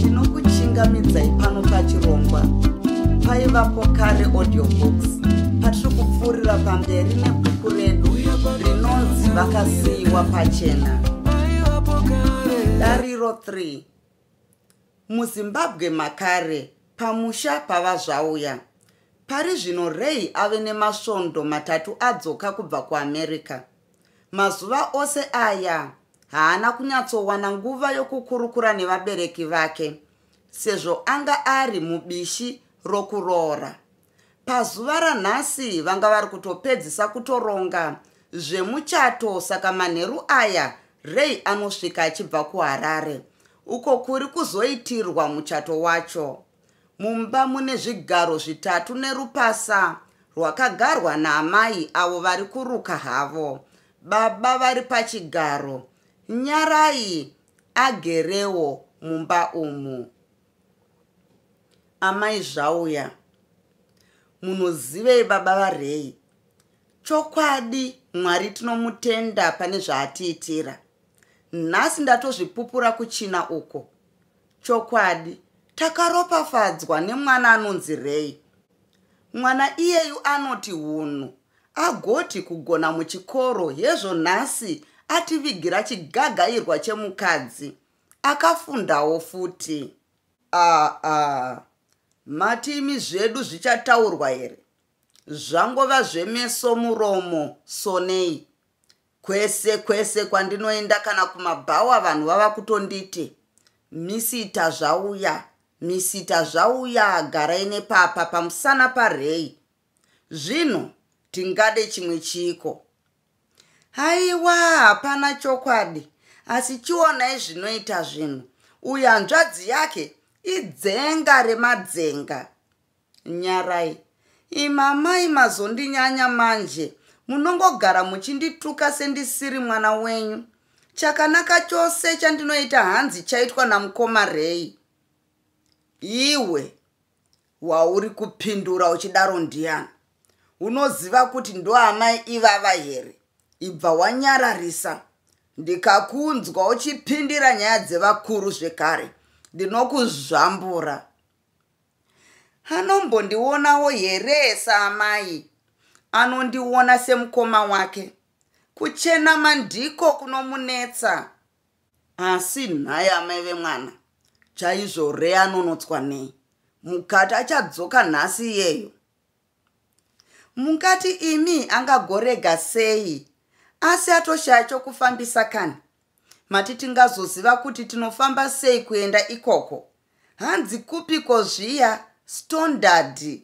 ndinokuchingamidzai pano pachirongwa paivapo kare audiobooks patiri kupfuurira pamberi nebhuku redu rinonzi vakasiyiwa pachena dariro 3 muzimbabwe makare pamusha pava zvauya pari zvino rey ave nemasvondo matatu adzoka kubva kuamerica mazuva ose aya haana kunyatsowana nguva yokukurukura nevabereki vake sezvo anga ari mubishi rokuroora Pazuva ranhasi vanga vari kutopedzisa kutoronga zvemuchato saka manheru aya Ray anosvika achibva kuHarare uko kuri kuzoitirwa muchato wacho. Mumba mune zvigaro zvitatu nerupasa rwakagarwa naamai avo vari kuruka havo. Baba vari pachigaro, Nyarai agerewo mumba umu. amai zvauya munozivei baba varei chokwadi mwari tinomutenda pane zvaatiitira nhasi ndatozvipupura kuchina uko chokwadi takaropafadzwa nemwana anonzi rei mwana iyeyu anoti hunhu agoti kugona muchikoro hezvo nhasi ativigira chigagairwa chemukadzi akafundawo futi aa ah, ah. mati imi zvedu zvichataurwa here zvangova zvemeso muromo sonei kwese kwese kwandinoenda kana kumabhawa vanhu vava kutonditi misita zvauya misita zvauya garai nepapa pamusana parei zvino tingade chimwe chiiko haiwa hapana chokwadi asi chionai zvinoita zvinhu uyo hanzvadzi yake idzenga remadzenga nyarai imamai mazondinyanya manje munongogara muchindituka sendisiri mwana wenyu chakanaka chose chandinoita hanzi chaitwa namukoma rei iwe wauri kupindura uchidaro ndiyani unoziva kuti ndoamai ivava here ibva wanyararisa ndikakunzwa uchipindira nyaya dzevakuru zvekare ndinokuzvambura anombondionawo here saamai anondiona semukoma wake kuchenama ndiko kunomunetsa asi nhai amai vemwana chaizvo rea anonotswa nei mukati achadzoka nhasi iyeyo mukati imi angagorega sei asi atoshaya chokufambisa kani mati tingazoziva kuti tinofamba sei kuenda ikoko hanzi kupiko zviya stondard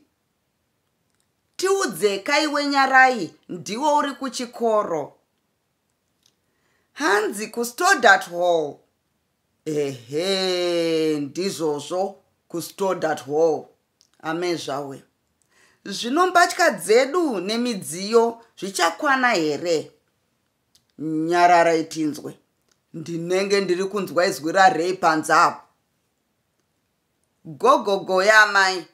tiudzekai wenyarai ndiwo uri kuchikoro hanzi kustodat hall ehe ndizvozvo kustodat hall amezvawe zvino mbatya dzedu nemidziyo zvichakwana here nyarara itinzwe ndinenge ndiri kunzwa izwi rarei panze apo gogogo yaamai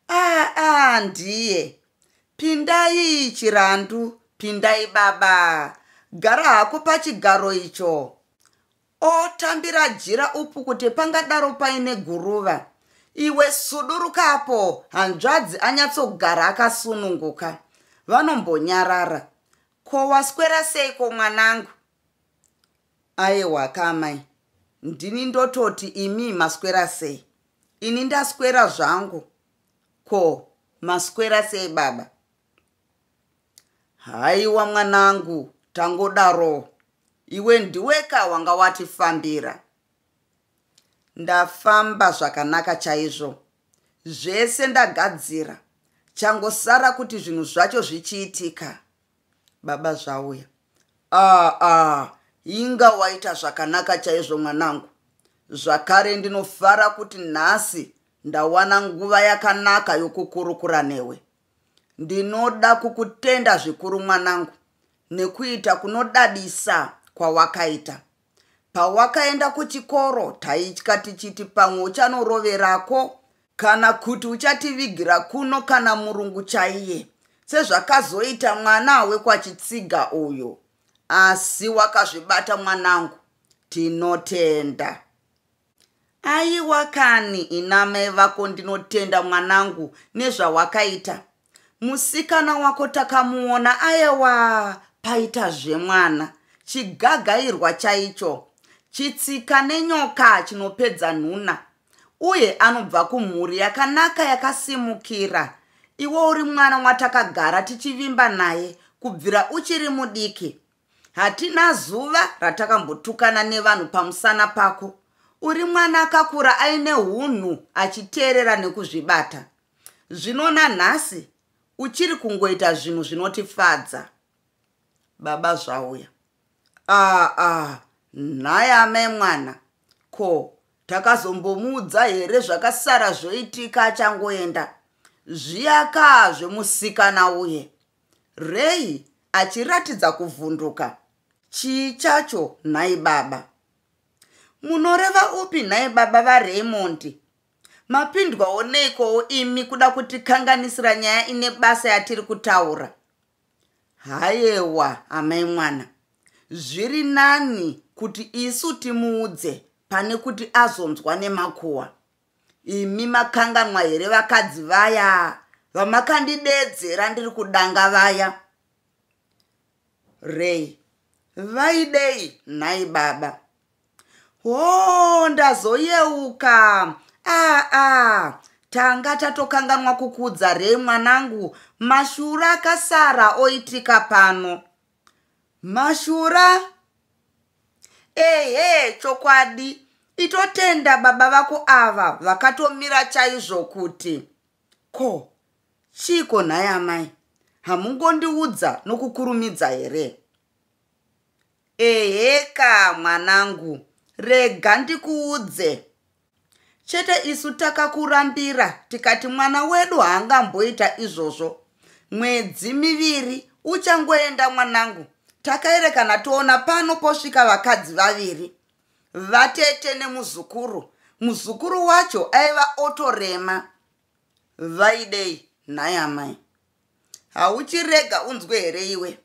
aa ah, ah, ndiye pindai chirandu pindai baba gara hako pachigaro icho otambira jira upu kuti pangadaro paine guruva iwe sudurukapo hanzvadzi anyatsogara akasununguka vanombonyarara ko waswera seiko mwanangu Aewa ka amai. Ndini ndototi imi maswera sei? Ini ndaswera zvangu. Ko maswera sei baba? Haiwa mwanangu tangodaro. Iwe ndiweka wanga watifambira. Ndafamba zvakanaka chaizvo. Zvese ndagadzira. Changosara kuti zvinhu zvacho zvichiitika. baba zvauya aa ah, ah, inga waita zvakanaka chaizvo mwanangu zvakare ndinofara kuti nhasi ndawana nguva yakanaka yokukurukura newe ndinoda kukutenda zvikuru mwanangu nekuita kunodadisa kwawakaita Pawakaenda kuchikoro taitya tichiti pamwe uchanoroverako kana kuti uchativigira kuno kana murungu chaiye sezvakazoita mwana wekwachitsiga uyu. Asi wakazvibata mwanangu, tinotenda. aiwa kani inamai vako ndinotenda mwanangu nezvawakaita musikana wako takamuona ayewa paita zvemwana chigagairwa chaicho chitsika nenyoka chinopedza nhuna uye anobva kumhuri yakanaka yakasimukira iwe uri mwana watakagara tichivimba naye kubvira uchiri mudiki Hatina zuva ratakambotukana nevanhu pamusana pako. Uri mwana akakura aine hunhu achiteerera nekuzvibata. Zvino nanhasi uchiri kungoita zvinhu zvinotifadza. Baba zvauya. Aa, ah, aa, ah, nhai amai mwana. Ko, takazombomuudza here zvakasara zvoitika achangoenda? Zviyakaa zvemusikana uye. Ray achiratidza kuvhunduka. Chii chacho nhai baba? Munoreva upi nhai baba vaRaymond? Mapindwawo neikowo imi kuda kutikanganisira nyaya ine basa yatiri kutaura? Hayewa amai mwana. Zviri nani kuti isu timuudze pane kuti azonzwa nemakuwa. imi makanganwa here vakadzi vaya vamakandidedzera ndiri kudanga vaya rei vaidei nhai baba hoo ndazoyeuka aa ah, ah. tanga tatokanganwa kukudza rei mwanangu mashura akasara oitika pano mashura ehe chokwadi itotenda baba vako ava vakatomira chaizvo kuti ko chiiko nhai amai hamungondiudza nokukurumidza here eheka mwanangu rega ndikuudze chete isu takakurambira tikati mwana wedu haangamboita izvozvo mwedzi miviri uchangoenda mwanangu takaerekana toona pano posvika vakadzi vaviri vatete nemuzukuru muzukuru wacho aiva otorema vaidei nhai amai hauchirega unzwe here iwe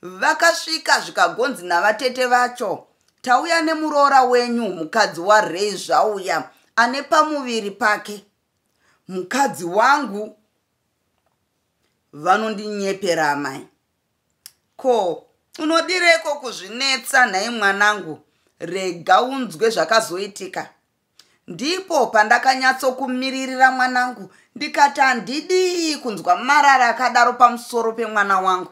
vakasvika zvikagonzi navatete vacho tauya nemuroora wenyu mukadzi warei zvauya ane pamuviri pake mukadzi wangu vanondinyepera amai ko unodireko kuzvinetsa nhai mwanangu rega unzwe zvakazoitika ndipo pandakanyatsokumiririra mwanangu ndikati handidii kunzwa marara akadaro pamusoro pemwana wangu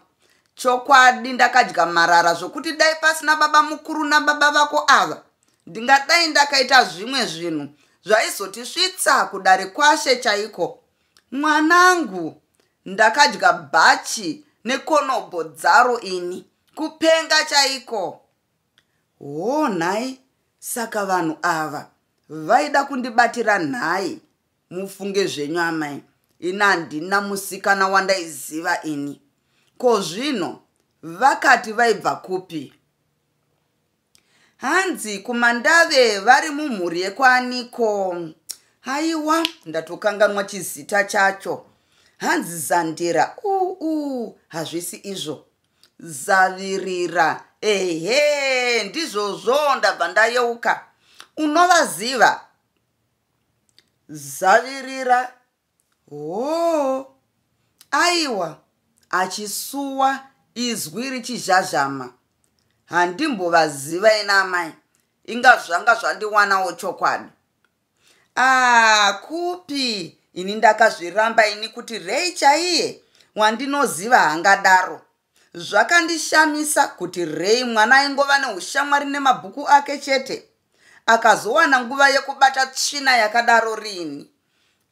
chokwadi ndakadya marara zvokuti dai pasina baba mukuru nababa vako ava ndingadai ndakaita zvimwe zvinhu zvaizotisvitsa kudare kwashe chaiko mwanangu ndakadya bhachi nekonobho dzaro ini kupenga chaiko hoo nhai saka vanhu ava vaida kundibatira nhai mufunge zvenyu amai ini handina musikana wandaiziva ini ko zvino vakati vaibva kupi hanzi kumandave vari mumhuri yekwaniko haiwa ndatokanganwa chizita chacho hanzi zandira uu hazvisi izvo zavirira ehe ndizvozvo ndabva ndayeuka unovaziva zavirira hoo aiwa achisuwa izwi richizhazhama handimbovaziva ina amai inga zvanga zvandiwanawo chokwadi aa kupi ini ndakazviramba ini kuti rei chaiye wandinoziva hangadaro zvakandishamisa kuti rei mwana aingova neushamwari nemabhuku ake chete akazowana nguva yekubata tsvina yakadaro rini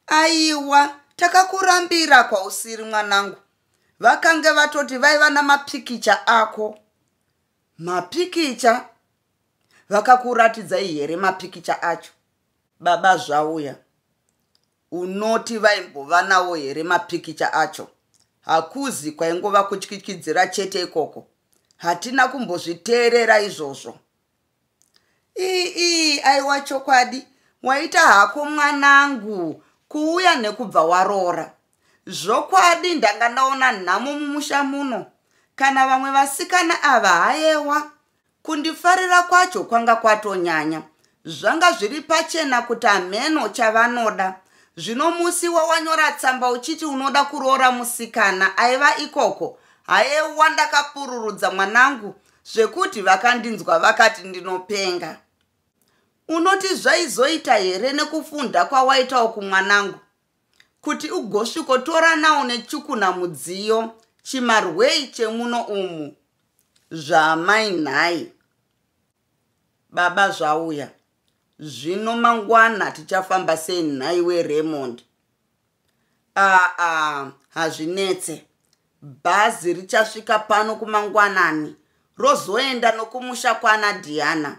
aiwa takakurambira kwausiri mwanangu vakange vatoti vaiva namapikicha ako mapikicha vakakuratidzai here mapikicha acho baba zvauya unoti vaimbova nawo here mapikicha acho hakuzi kwaingova kutyityidzira chete ikoko hatina kumbozviteerera izvozvo iii aiwa chokwadi waita hako mwanangu kuuya nekubva waroora zvokwadi ndanga ndaona nhamo mumusha muno kana vamwe vasikana ava hayewa kundifarira kwacho kwanga kwatonyanya zvanga zviri pachena kuti hameno chavanoda zvino musi wawanyora tsamba uchiti unoda kuroora musikana aiva ikoko hayewa ndakapururudza mwanangu zvekuti vakandinzwa vakati ndinopenga unoti zvaizoita here nekufunda kwawaitawo kumwanangu kuti ugosvikotoranawo nechukuna mudziyo chimarwei chemuno umu zvaamai nhai baba zvauya zvino mangwana tichafamba sei nhai weremond aa hazvinetse bhazi richasvika pano kumangwanani rozoenda nokumusha kwana diana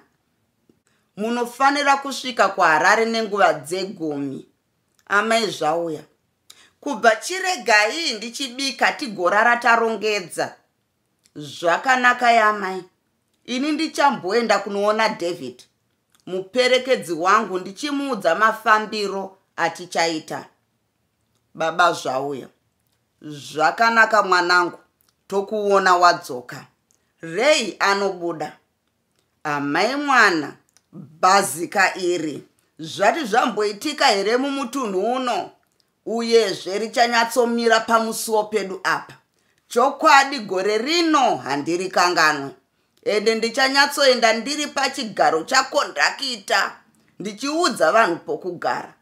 munofanira kusvika kuharare nenguva dzegumi amai zvauya kubva chiregai ndichibika tigorara tarongedza zvakanaka yamai ini ndichamboenda kunoona david muperekedzi wangu ndichimuudza mafambiro atichaita baba zvauya zvakanaka mwanangu tokuona wadzoka rei anobuda amai mwana bhazika iri zvati zvamboitika here mumutunhu uno Uyezve richanyatsomira pamusuwo pedu apa. Chokwadi gore rino handirikanganwe. Ende ndichanyatsoenda ndiri pachigaro chakondakita ndichiudza vanhu pokugara.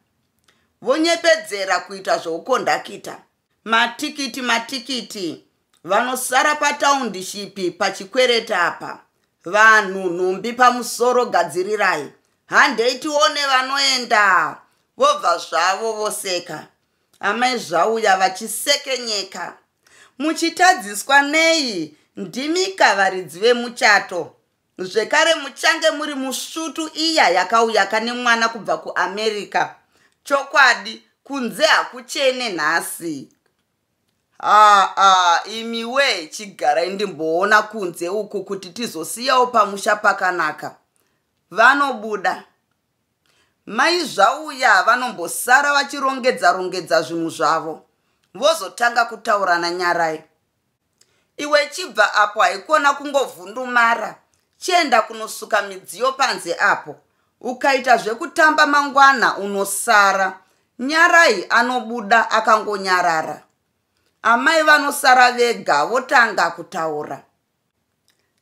Vonyepedzera kuita zvoukondakita. Matikiti, matikiti, vanosara pataundishipi pachikwereta apa vanhu nhumbi pamusoro gadzirirai handei tione vanoenda vobva zvavo voseka amai zvauya vachisekenyeka muchitadziswa nei ndimika varidzi vemuchato zvekare muchange muri musvutu iya yakauya kane mwana kubva kuamerica chokwadi kunze hakuchene nhasi haa imi wee chigarai ndimboona kunze uku kuti tizosiyawo pamusha pakanaka vanobuda mai zvauya vanombosara vachirongedza rongedza zvinhu zvavo vozotanga kutaura nanyarai iwe chibva apo haikona kungovhundumara chienda kunosuka midziyo panze apo ukaita zvekutamba mangwana unosara nyarai anobuda akangonyarara amai vanosara vega votanga kutaura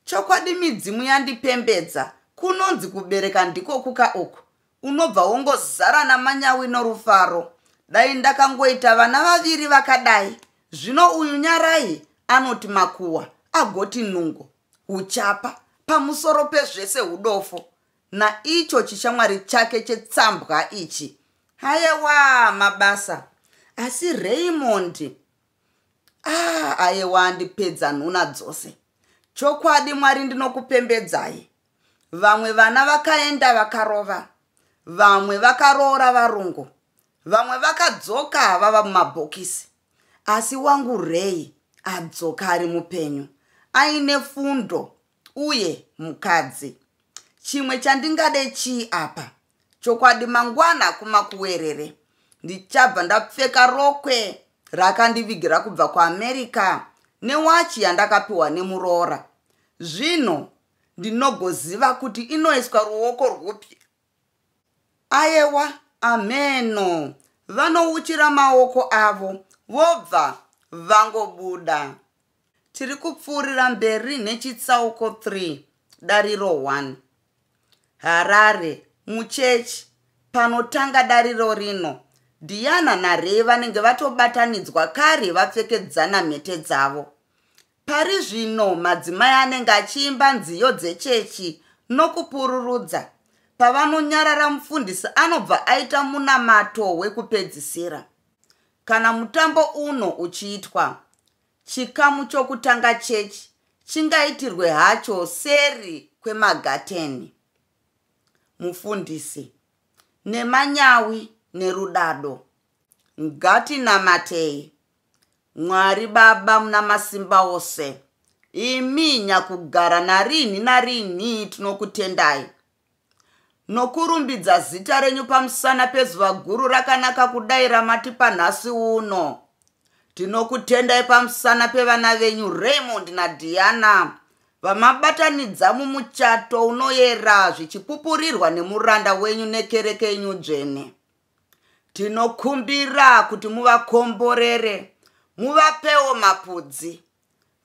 Chokwadi midzimu yandipembedza kunonzi kubereka ndiko kuka uku unobva wongozara namanyawi norufaro dai ndakangoita vana vaviri vakadai zvino uyu nyarai anoti makuwa agoti nungo uchapa pamusoro pezvese udofo naicho chishamwari chake chetsambwa ichi hayewa mabasa asi raymond ah ayewa andipedza nhuna dzose chokwadi mwari ndinokupembedzai vamwe vana vakaenda vakarova vamwe vakaroora varungu vamwe vakadzoka vava mumabhokisi asi wangu rei adzoka ari mupenyu aine fundo uye mukadzi chimwe chandingade chii apa chokwadi mangwana kumakuwerere ndichabva ndapfeka rokwe rakandivigira kubva kuamerica newachi yandakapiwa nemuroora zvino ndinogoziva kuti inoiswa ruoko rwupi ayewa ameno vanouchira maoko avo vobva vangobuda Tiri kupfuurira mberi nechitsauko 3 dariro 1. Harare, muchechi, panotanga dariro rino, Diana naRay vanenge vatobatanidzwa kare vapfekedzana mhete dzavo. Pari zvino madzimai anenge achiimba nziyo dzechechi nokupururudza. Pavanonyarara mufundisi anobva aita munamato wekupedzisira. Kana mutambo uno uchiitwa, Chikamu chokutanga chechi chingaitirwe hacho seri kwemagateni. Mufundisi, nemanyawi nerudado, ngatinamatei. Mwari Baba muna masimba ose, imi nyakugara narinhi narinhi tinokutendai Nokurumbidza zita renyu pamusana pezuva guru rakanaka kudai ramatipa nhasi uno. Tinokutendai pamusana pevana venyu Raymond naDiana vamabatanidza mumuchato unoyera zvichipupurirwa nemuranda wenyu nekereke yenyu dzvene. Tinokumbira kuti muvakomborere, muvapewo mapudzi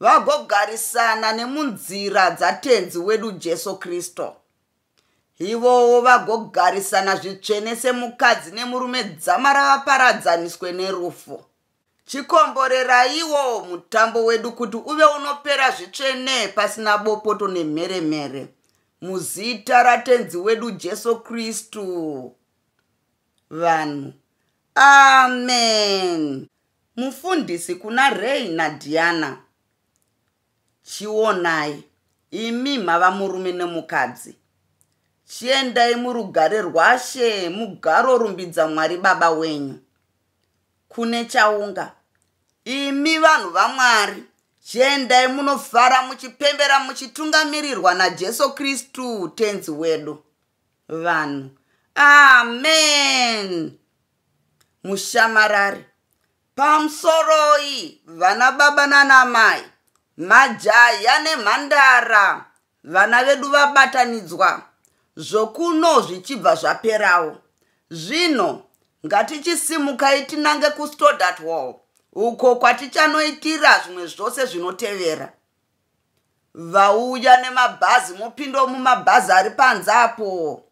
vagogarisana nemunzira dzatenzi wedu jesu kristu ivowo vagogarisana zvitsvene semukadzi nemurume dzama ravaparadzaniswe nerufu chikomboreraiwo mutambo wedu kuti uve unopera zvitsvene pasina bopoto nemheremhere muzita ratenzi wedu jesu kristu vanhu amen Mufundisi kuna Ray na Diana. Chionai, imi mava murume nemukadzi. Chiendai murugare rwaShe mugaro rumbidza Mwari Baba wenyu. Kune chaunga. Imi vanhu vaMwari, chiendai munofara muchipembera muchitungamirirwa naJesu Kristu Tenzi wedu. Vanhu. Amen! mushamarari pamusoroi vana baba nana mai majaya nemhandara vana vedu vabatanidzwa zvokuno zvichibva zvaperawo zvino ngatichisimukai tinange kustodart wall uko kwatichanoitira zvimwe zvose zvinotevera vauya nemabhazi mopindawo mumabhazi ari panze apo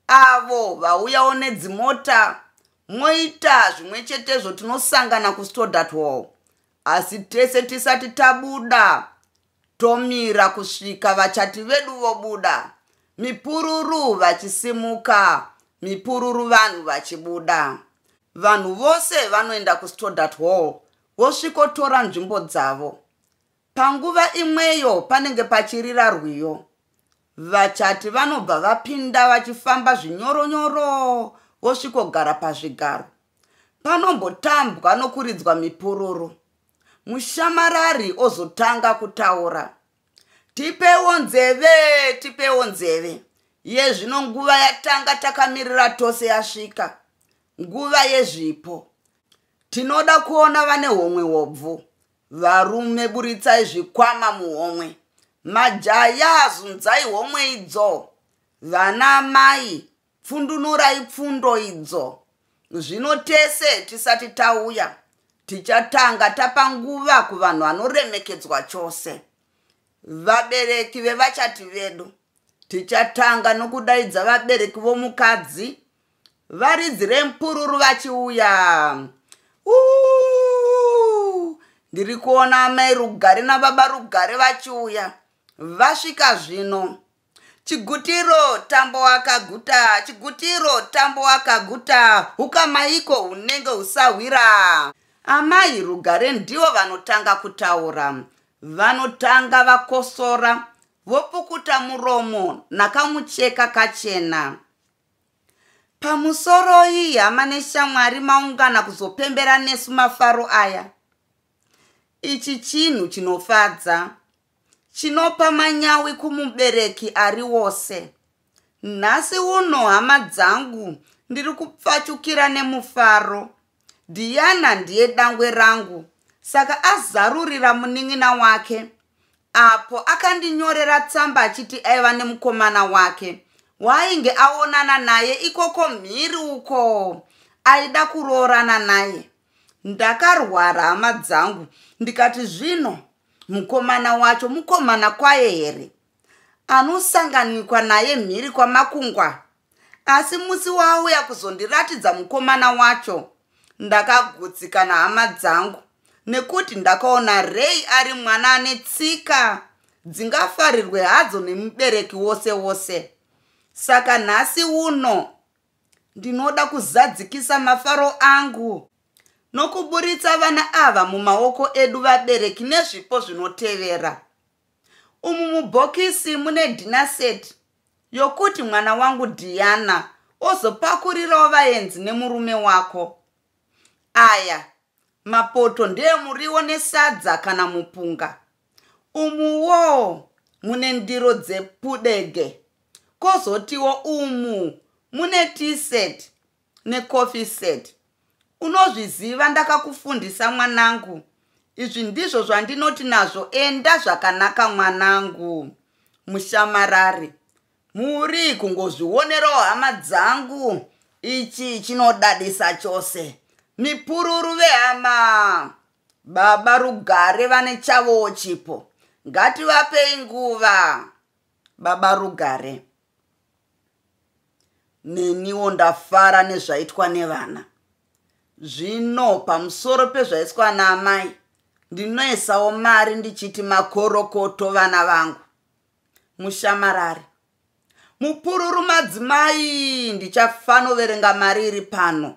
avo vauyawo nedzimota moita zvimwe chetezvo tinosangana kustodatwall asi tese tisati tabuda tomira kusvika vachati vedu vobuda mipururu vachisimuka mipururu vanhu vachibuda vanhu vose vanoenda kustodatwall vosvikotora nzvimbo dzavo Panguva imweyo panenge pachirira rwiyo, vachati vanobva vapinda vachifamba zvinyoronyoro vosvikogara pazvigaro. Panombotambwa nokuridzwa mipururu, mushamarari ozotanga kutaura. Tipewo nzeve, tipewo nzeve. Yezvino nguva yatanga takamirira tose yasvika, nguva yezvipo. Tinoda kuona vane homwe hobvu, Varume buritsai zvikwama muhomwe. Majaya zunzai homwe idzo. Vana mai pfundunurai pfundo idzo. Zvino tese tisati tauya tichatanga tapa nguva kuvanhu vanoremekedzwa chose. Vabereki vevachati vedu Tichatanga nokudaidza vabereki vomukadzi varidzire mpururu vachiuya. Uuu, ndiri kuona amai Rugare nababa Rugare vachiuya. Vasvika zvino. Chigutiro tambo wakaguta, chigutiro tambo wakaguta, hukamaiko hunenge husahwira. Amai Rugare ndivo vanotanga kutaura. Vanotanga vakosora Vopukuta muromo nakamucheka kachena. Pamusoroi hama neshamwari maungana kuzopembera nesu mafaro aya. Ichi chinhu chinofadza. Chinopa manyawi kumubereki ari wose. Nhasi uno hama dzangu ndiri kupfachukira nemufaro. Diana ndiye dangwe rangu saka azarurira munin'ina wake apo akandinyorera tsamba achiti aiva nemukomana wake waainge aonana naye ikoko mhiri uko aida kuroorana naye ndakarwara hama dzangu ndikati zvino mukomana wacho mukomana kwaye here anosanganikwa naye mhiri kwamakungwa asi musi waauya kuzondiratidza mukomana wacho ndakagutsikana hama dzangu nekuti ndakaona rei ari mwana ane tsika dzingafarirwe hadzo nemubereki wose wose saka nhasi uno ndinoda kuzadzikisa mafaro angu nokuburitsa vana ava mumaoko edu vabereki nezvipo zvinotevera umu mubhokisi mune dhinaseti yokuti mwana wangu diana ozopakurirawo vaenzi nemurume wako aya mapoto ndeemuriwo nesadza kana mupunga umuwo mune ndiro dzepudege kozotiwo umu mune tiset necoffee set unozviziva ndakakufundisa mwanangu izvi ndizvo zvandinoti nazvo enda zvakanaka mwanangu mushamarari muri kungozvionerawo hama dzangu ichi chinodadisa chose mipururu vehama baba rugare vane chavowo chipo ngativapei nguva baba rugare neniwo ndafara nezvaitwa nevana zvino pamusoro pezvaiswa naamai ndinoisawo mari ndichiti makorokoto vana vangu mushamarari mupururu madzimai ndichafanoverenga mari iri pano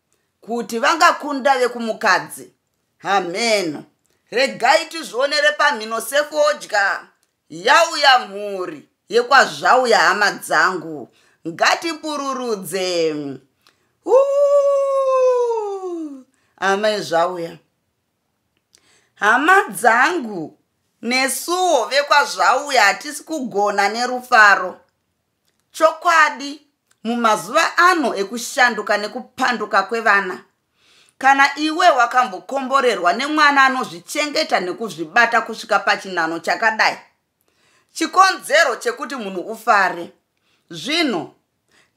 kuti vangakunda vekumukadzi hameno regai tizvionere pamhino sefodya yauya mhuri yekwazvauya hama dzangu ngatipururudze amai zvauya hama dzangu nesuwo vekwazvauya hatisi kugona nerufaro Chokwadi, mumazuva ano ekushanduka nekupanduka kwevana, kana iwe wakambokomborerwa nemwana anozvichengeta nekuzvibata kusvika pachinhano chakadai, chikonzero chekuti munhu ufare. Zvino,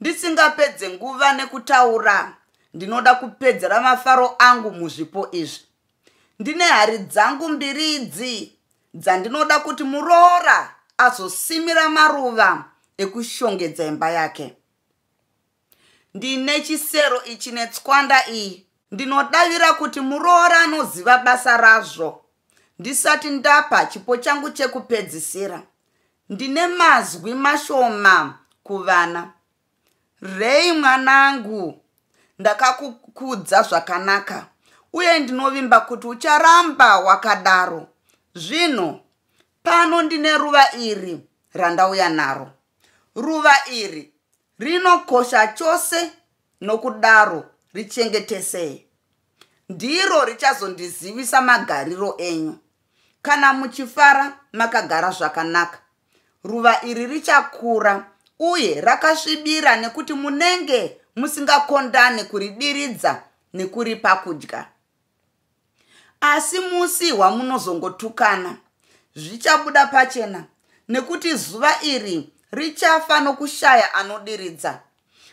ndisingapedze nguva nekutaura, ndinoda kupedzera mafaro angu muzvipo izvi. Ndine hari dzangu mbiri idzi, dzandinoda kuti muroora azosimira maruva ekushongedza imba yake ndine chisero ichi netswanda iyi ndinodavira kuti muroora anoziva basa razvo ndisati ndapa chipo changu chekupedzisira ndine mazwi mashoma kuvana rei mwanangu ndakakukudza zvakanaka uye ndinovimba kuti ucharamba wakadaro zvino pano ndine ruva iri randauya naro ruva iri rinokosha chose nokudaro richengetesei ndiro richazondizivisa magariro enyu kana muchifara makagara zvakanaka Ruva iri richakura uye rakasvibira nekuti munenge musingakondane kuridiridza nekuripa kudya. Asi musi wamunozongotukana zvichabuda pachena nekuti zuva iri richafa nokushaya anodiridza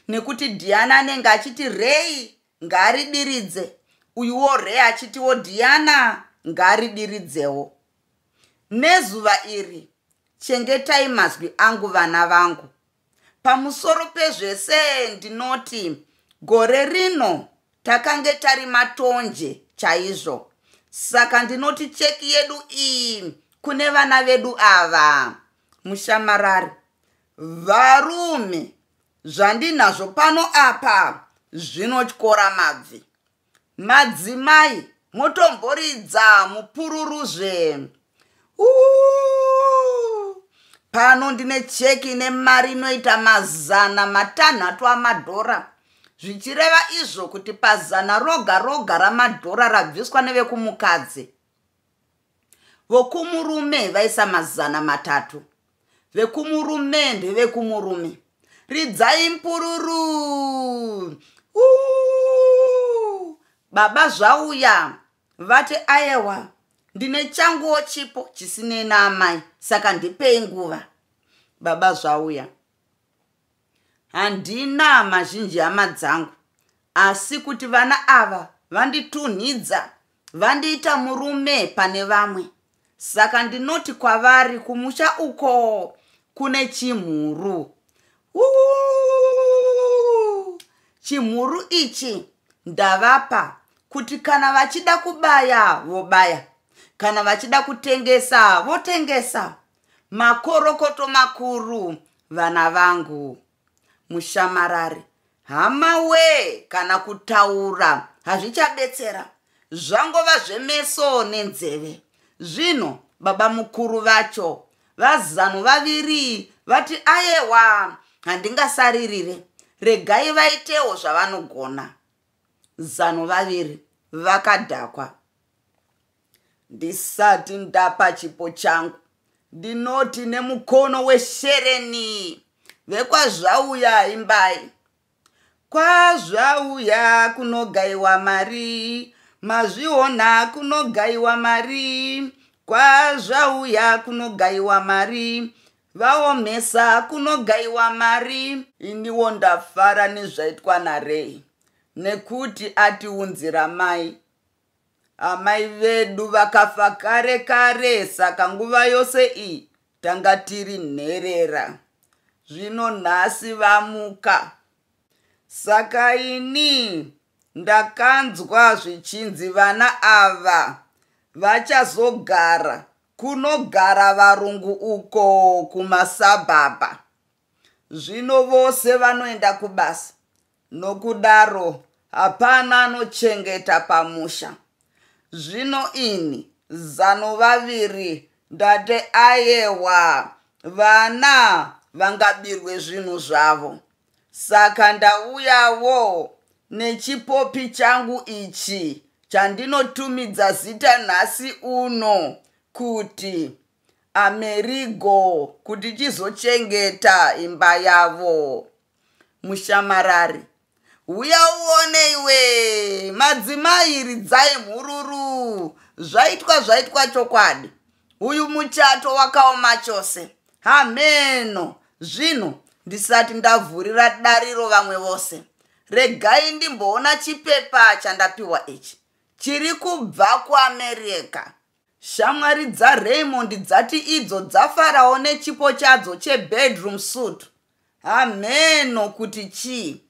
nekuti Diana anenge achiti Ray ngaaridiridze uyuwo Ray achitiwo Diana ngaaridiridzewo. Nezuva iri, chengetai mazwi angu vana vangu. Pamusoro pezvese ndinoti gore rino takange tari matonje chaizvo. Saka ndinoti cheki yedu iyi kune vana vedu ava. Mushamarari, varume zvandinazvo pano apa zvinotyora mabvi. Madzimai motomboridza mupururu zve. Uuh! Pano ndine cheki ine mari inoita mazana matanhatu amadhora zvichireva izvo kuti pazana roga roga ramadhora rabviswa nevekumukadzi vokumurume vaisa mazana matatu vekumurume ndevekumurume ridzai mpururu Ooh! baba zvauya vati ayewa ndine changuwo chipo chisinei naamai saka ndipei nguva baba zvauya handina mazhinji hama dzangu asi kuti vana ava vanditunhidza vandiita murume pane vamwe saka ndinoti kwavari kumusha uko kune chimhuru Uuuu! chimhuru ichi ndavapa kuti kana vachida kubaya vobaya kana vachida kutengesa votengesa makorokoto makuru vana vangu mushamarari hama wee kana kutaura hazvichabetsera zvangova zvemeso nenzeve zvino baba mukuru vacho vazanu vaviri vati ayewa handingasaririre regai vaitewo zvavanogona zanu vaviri vakadhakwa ndisati ndapa chipo changu ndinoti nemukono weshereni vekwazvauya imbai kwazvauya kunogaiwa mari mazviona kunogaiwa mari kwazvauya kunogaiwa mari vaomesa kunogaiwa mari iniwo ndafara nezvaitwa narei nekuti atiunzira mai Amai vedu vakafa kare kare saka nguva yose iyi tanga tiri nherera. Zvino nhasi vamuka. Saka ini ndakanzwa zvichinzi vana ava vachazogara kunogara varungu uko kumasabhabha. Zvino vose vanoenda kubasa Nokudaro hapana anochengeta pamusha. Zvino ini zano vaviri ndati ayewa vana vangabirwe zvinhu zvavo. Saka ndauyawo nechipopi changu ichi chandinotumidza zita nhasi uno kuti Amerigo kuti chizochengeta imba yavo. mushamarari huya uone iwe madzimai ridzai mhururu zvaitwa zvaitwa chokwadi uyu muchato wakaoma chose hameno zvino ndisati ndavhurira dariro vamwe vose regai ndimboona chipepa chandapiwa ichi chiri kubva kuamerica shamwari dzaraymond dzati idzo dzafarawo nechipo chadzo chebedroom suit Hamheno kuti chii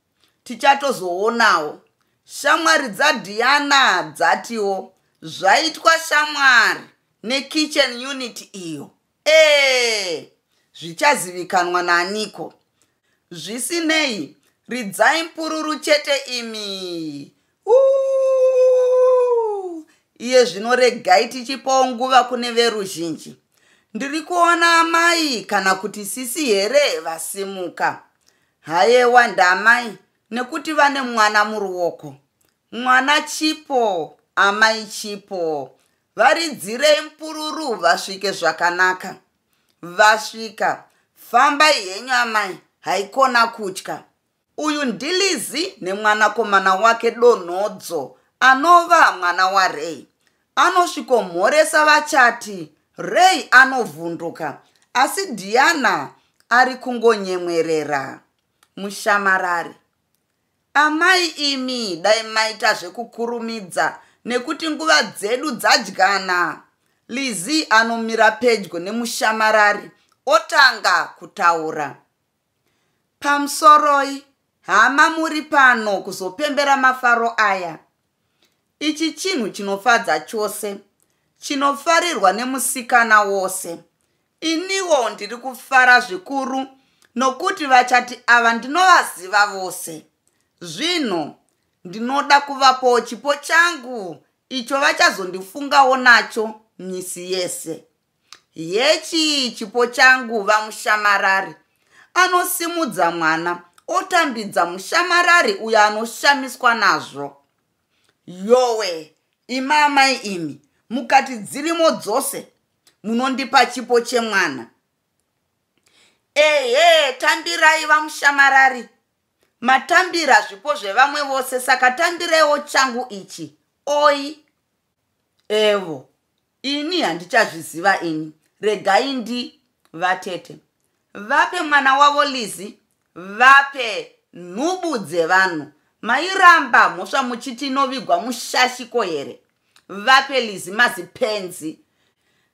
tichatozoonawo. Shamwari dzaDiana dzatiwo zvaitwa shamwari nekitchen unit iyo ee zvichazivikanwa naaniko. Zvisinei ridzai mpururu chete imi iye zvino regai tichipawo nguva kune veruzhinji ndiri kuona amai kana kuti sisi here vasimuka hayewa ndaamai nekuti vane mwana muruoko mwana chipo amai chipo varidzirei mpururu vasvike zvakanaka vasvika fambai henyu amai haikona kutya Uyu ndiLizzy nemwanakomana wake Donhodzo anova mwana waRay. Anosvikomhoresa vachati Ray anovhunduka asi Diana ari kungonyemwerera. Mushamarari. Amai imi dai maita zvekukurumidza nekuti nguva dzedu dzadyana. Lizzy anomira pedyo nemushamarari otanga kutaura. Pamusoroi hama muri pano kuzopembera mafaro aya. Ichi chinhu chinofadza chose, chinofarirwa nemusikana wose. Iniwo ndiri kufara zvikuru nokuti vachati ava ndinovaziva vose. Zvino ndinoda kuvapowo chipo changu icho vachazondifungawo nacho misi yese. Hechi chipo changu vamushamarari. Anosimudza mwana otambidza mushamarari uyo anoshamiswa nazvo. Yowe, ima amai imi, mukati dzirimo dzose munondipa chipo chemwana. Ehe, tambirai vamushamarari. Matambira zvipo zvevamwe vose saka tambiraiwo changu ichi. Oi. evo ini handichazviziva ini regai ndi vatete vape mwana wavo lizi vape nhubu dzevanhu mairamba mhosva muchiti inovigwa mushashiko here vape lizi mazipenzi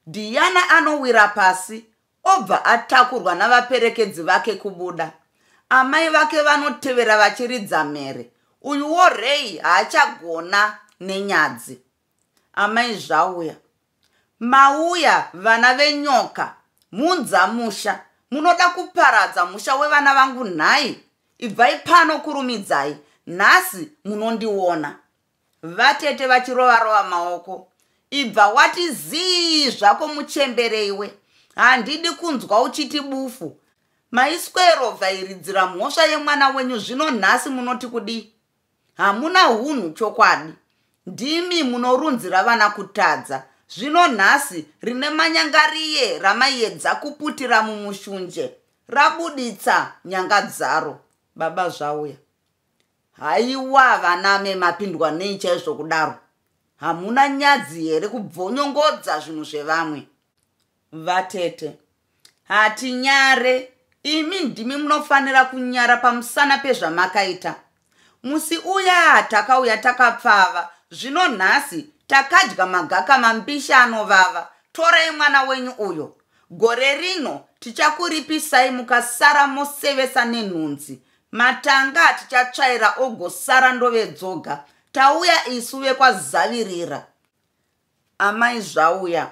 diana anowira pasi obva atakurwa navaperekedzi vake kubuda amai vake vanotevera vachiridza mhere uyuwo rei haachagona nenyadzi amai zvauya mauya vana venyoka mhunza musha munoda kuparadza musha wevana vangu nhai ibvai pano kurumidzai nhasi munondiona Vatete vachirova rova maoko. Ibva wati zii zvako muchembere iwe. Handidi kunzwa uchiti bufu. Maiswero vhairidzira mhosva yemwana wenyu zvino nhasi munoti kudii? Hamuna hunhu chokwadi. Ndimi munorunzira vana kutadza. Zvino nhasi rine manyangariye ramaiyedza kuputira mumushunje. Rabuditsa nyanga dzaro. Baba zvauya. haiwa vaname mapindwa nei chaizvo kudaro hamuna nyadzi here kubvonyongodza zvinhu zvevamwe vatete hatinyare imi ndimi munofanira kunyara pamusana pezvamakaita musi uya takauya takapfava zvino nhasi takadya magaka mambishi anovava torai mwana wenyu uyo gore rino tichakuripisai mukasara mosevesa nenhunzi Matanga atichatsvaira ogosara ndove dzoga. Tauya isu vekwazavirira. Amai zvauya.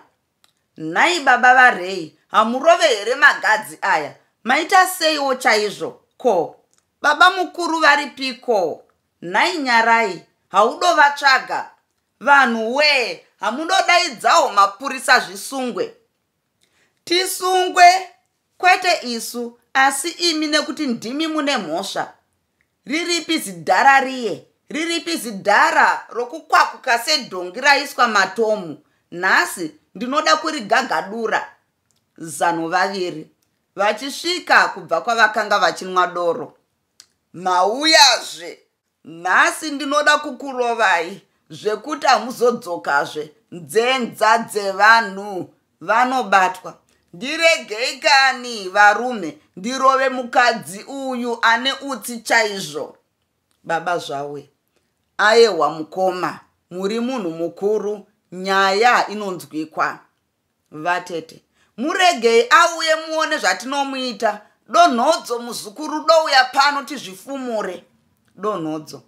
Nhai baba varei, hamurove here magadzi aya? Maita seiwo chaizvo? Ko, baba mukuru varipiko? Nhai nyarai, haudovatsvaga? Vanhu wee, hamudodaidzawo mapurisa zvisungwe? tisungwe kwete isu asi imi nekuti ndimi mune mhosva riripi zidhara riye riripi zidhara rokukwakuka sedhongi raiswa matomu nhasi ndinoda kurigagadura zano vaviri vachisvika kubva kwavakanga vachinwa doro mauyazve Nhasi ndinoda kukurovai zvekuti hamuzodzokazve nzenza dzevanhu vanobatwa ndiregei kani varume ndirove mukadzi uyu ane utsi chaizvo baba zvawe ayehwa mukoma muri munhu mukuru nyaya inonzwikwa Vatete. Muregei auye muone zvatinomuita. Donhodzo muzukuru douya pano tizvifumure. Donhodzo.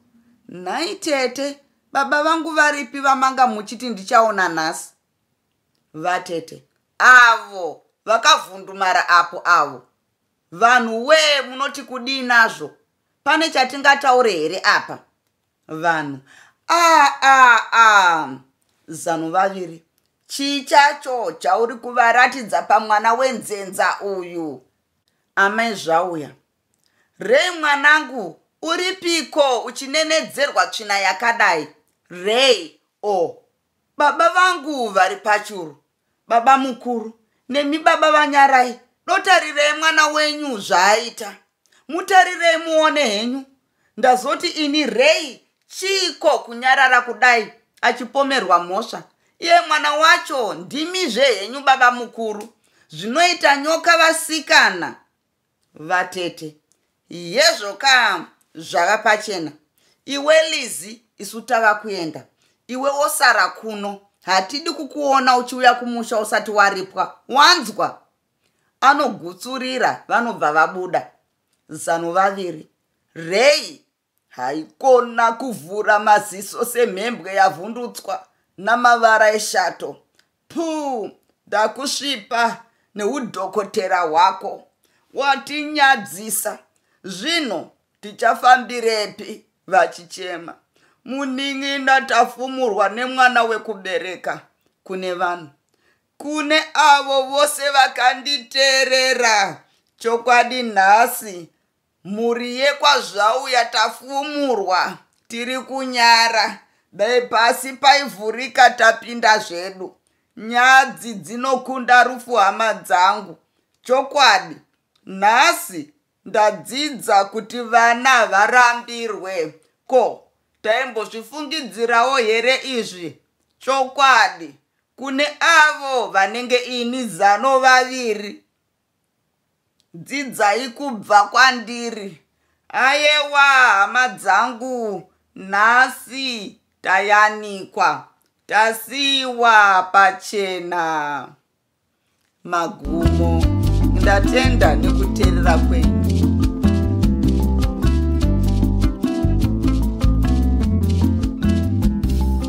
Nhai tete, baba vangu varipi vamanga muchiti ndichaona nhasi? Vatete. Avo vakavhundumara apo avo. Vanhu wee munoti kudii nazvo? Pane chatingataure here apa? vanhu aa ah, ah, ah. zano vaviri chii chacho chauri kuvaratidza pamwana wenzenza uyu amai zvauya rei mwanangu uripiko uchinenedzerwa tsvina yakadai rei o oh. baba vangu vari pachuru baba mukuru nemi baba vanyarai dotarirei mwana wenyu zvaaita mutarirei muone henyu ndazoti ini rei chiiko kunyarara kudai achipomerwa mhosva iye mwana wacho ndimizve henyu baba mukuru zvinoita nyoka vasikana vatete yezvo ka zvava pachena iwe lizi isu tava kuenda iwe wosara kuno hatidi kukuona uchiuya kumusha usati waripwa wanzwa anogutsurira vanobva vabuda zano vaviri rei haikona kuvhura maziso semhembwe yavhundutswa namavara eshato puu ndakusvipa neudhokotera hwako watinyadzisa zvino tichafambirepi vachichema munin'ina tafumurwa nemwana wekubereka kune vanhu kune avo vose vakanditeerera chokwadi nhasi Mhuri yekwaZvauya tafumurwa tiri kunyara dai pasi paivhurika tapinda zvedu. Nyadzi dzinokunda rufu hama dzangu. Chokwadi nhasi ndadzidza kuti vana havarambirwe. Ko taimbozvifungidzirawo here izvi? Chokwadi kune avo vanenge ini zano vaviri dzidzai kubva kwandiri ayewa hama dzangu nhasi tayanikwa tasiiwa pachena magumo ndatenda nekuteerera kwenyu